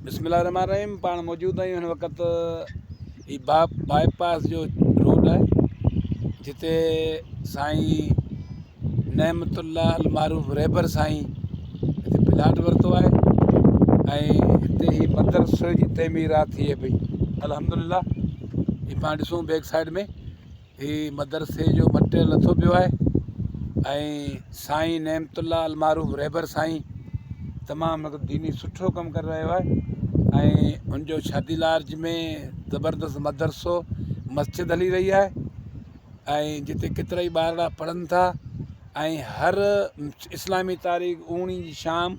بسم الله الرحمٰن الرحيم پاڻ موجود آهيون هن وقت هي با باء پاس جو روڊ آهي جتي سائين نعمت الله المعروف رهبر سائين هتي پلاٽ ورتو آهي ۽ هتي هي مدرسي جي تعميرات ٿئي پئي الحمد لله هي پاڻ ڏسون بيڪ سائيڊ ۾ هي مدرسي جو مٽيريل لٿو پيو آهي ۽ سائين نعمت الله المعروف رهبر سائين تمام هڪ ديني سٺو ڪم ڪري رهيو آهي ۽ ان جو شادي لارج ۾ زبردست مدرسو مسجد هلي رهي آهي ۽ جتي ڪيترا ئي ٻارڙا پڙهن ٿا ۽ هر اسلامي تاريخ اوڻي جي شام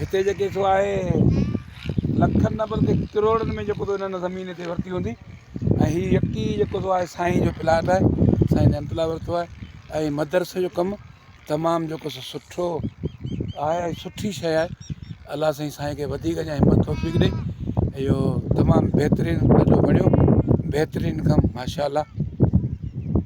هتي جيڪي سو آهي لکن نه بلڪه ڪروڙن ۾ جيڪو هنن زمين هتي ورتي هوندي ۽ هي يڪي جيڪو سو آهي سائين جو پلاٽ آهي سائين رحمت الله ورتو آهي ۽ مدرسي جو ڪم تمام جيڪو سو سٺو آهي ۽ سٺي شي آهي الله سائين سائين کي وڌيڪ اڃا همت توفيق ڏي اهو تمام بهترين ڏاڍو بڻيو بهترين ڪم ماشاء الله